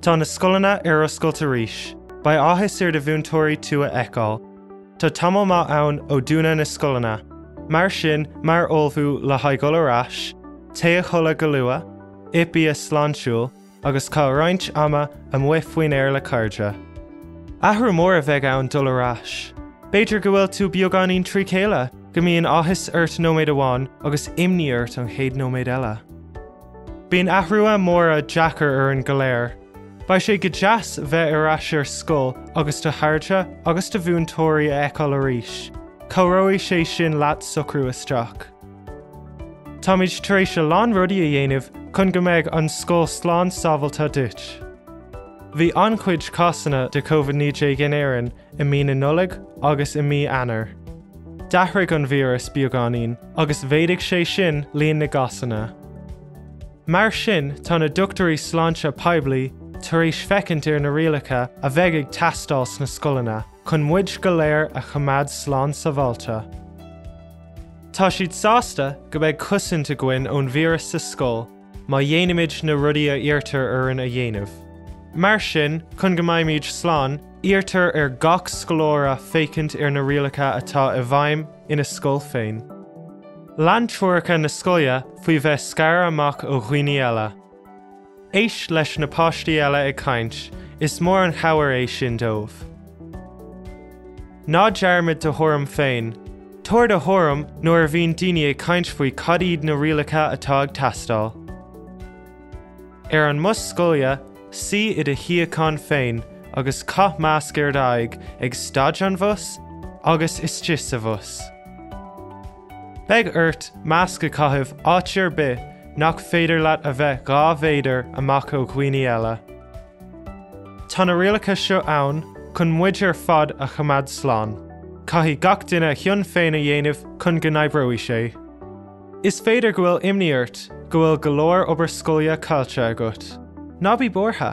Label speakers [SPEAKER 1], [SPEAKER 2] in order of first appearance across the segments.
[SPEAKER 1] Tá na scoileanna ar oscailt arís. Beidh áthas ar do mhúinteoirí tú a fheiceáil. Tá tamall maith ann ó dúnadh na scoileanna. Mar sin, mar ullmhú le haghaidh dhul ar ais, téigh a chodladh go luath, ith bia sláintiúil, agus caith roinnt ama amuigh faoin aer le cairde. Athrú mór a bheidh ann dul ar ais. B'fhéidir go bhfuil tú beagáinín trí chéile! go mbíonn áthas ort nóiméad amháin agus imní ort an chéad nóiméad eile. Bíonn athruithe móra deacair orainn go léir. Beidh sé go deas bheith ar ais ar scoil agus do chairde agus do mhúinteoirí a fheiceáil arís. Cabhróidh sé sin leat socrú isteach. Táimid tar éis a lán rudaí a dhéanamh chun go mbeidh an scoil slán sábháilte duit. Bhí an-chuid cásanna de Covid 19 in Éirinn i mí na Nollag agus i mí Eanáir. D'athraigh an víreas beagáinín agus mhéadaigh sé sin líon na gcásanna. Mar sin tá na dochtúirí sláinte poiblí tar éis féachaint ar na rialacha a bheidh ag teastáil sna scoileanna chun muid go léir a choimeád slán sabháilte. Tá siad sásta go mbeidh cosaint againn ón víreas sa scoil, Má dhéanaimid na rudaí a iarrtar orainn a dhéanamh. Mar sin, chun go mbeimid slán, iarrtar ar gach scoláire féachaint ar na rialacha atá i bhfeidhm ina scoil féin. Lean treoracha na scoile faoi bheith scartha amach ó dhaoine eile. Éist leis na páistí eile ag caint, is mór an chabhair é sin dóibh. Ná dearmad do thuairim féin. Tabhair do thuairim nuair a bhíonn daoine ag caint faoi cad iad na rialacha atá ag teastáil. Ar an mbus scoile, suí i do shuíochán féin agus caith masc ar d'aghaidh ag stad an bhus agus istigh sa bhus. Beidh ort masc a chaitheamh áit ar bith nach féidir leat a bheith dhá mhéadar amach ó dhaoine eile. Tá na rialacha seo ann chun muid ar fad a choimeád slán. Caithfidh gach duine a chion féin a dhéanamh chun go n-oibreoidh sé. Is féidir go bhfuil imní ort go bhfuil go leor obair scoile caillte agat. Ná bí buartha.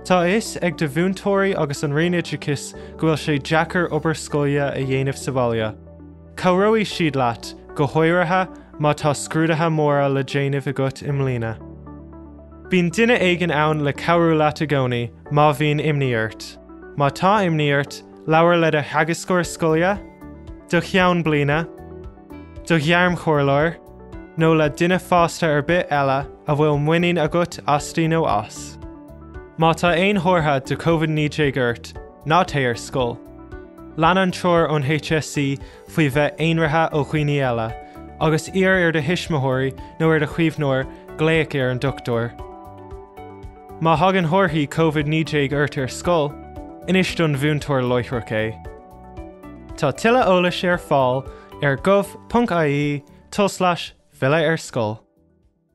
[SPEAKER 1] Tá a fhios ag do mhúinteoirí agus an Roinn Oideachais go bhfuil sé deacair obair scoile a dhéanamh sa bhaile. Cabhróidh siad leat, go háirithe má tá scrúduithe móra le déanamh agat i mbliana. Bíonn duine éigin ann le cabhrú leat i gcónaí má bhíonn imní ort. Má tá imní ort, labhair le do theagascóir scoile, do cheann bliana, do ghairmchomhairleoir, nó le duine fásta ar bith eile a bhfuil muinín agat asti nó as. Má tá aon chomhartha de Covid-19 ort, ná téigh ar scoil. Lean an treoir ón HSE faoi bheith aonraithe ó dhaoine eile, agus iarr ar do thuismitheoirí nó ar do chaomhnóir glaoch ar an dochtúir. Má thagann comharthaí Covid 19 ort ar scoil, inis don mhúinteoir láithreach é. Tá tuilleadh eolais ar fáil ar gov.ie tulslais filleadh ar scoil.